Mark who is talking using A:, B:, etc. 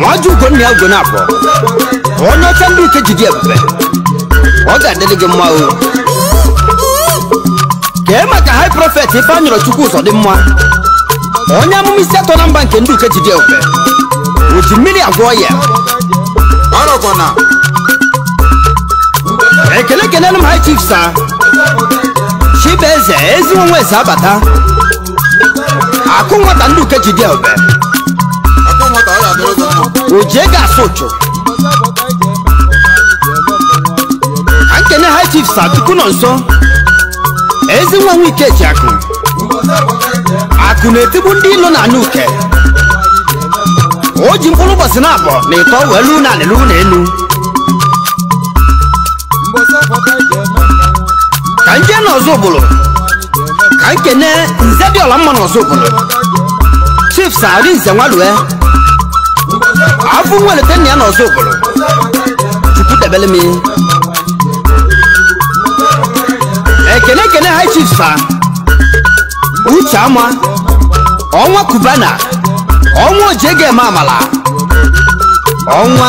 A: nwa ji ugo nna ya ugo na-abụ onye ọcha ndị uke ji dị ebube ọ ga-adịrị gị mma o kee maka high prophet ifeanyịrọ chukwu ụzọ dị mma onye amụma isi atọ na mba nke ndị uke ji dị ebube o ji mmiri agwọ ọya ọrọkwana ekele kelere m high chief sir chibueze ezi nwa nwe eze abata akụ nwata ndị uke ji dị ebube akụ nwata ọ ya-adịrị gị mma o ji ego asụ ụchụ ka m kene high chief sir chukwunọnso ezi nwa nwa ike ji akụ akụ na-etigbu ndị ilo na anị uke o ji mkpụrụ ụbọchị na abụọ na ịtọ wee luu na anị luu na enu ka m je na ọzụbụlụ ka m kene nze dị ọla mma n'ọzụbụlụ chief sir arịnze nwa lue afọ nwelete nna ya n'ọzụbụlụ chukwu debele m ekene ekene high chief sir uche ama ọnwa kubana ọnwa o ji ego eme amala ọnwa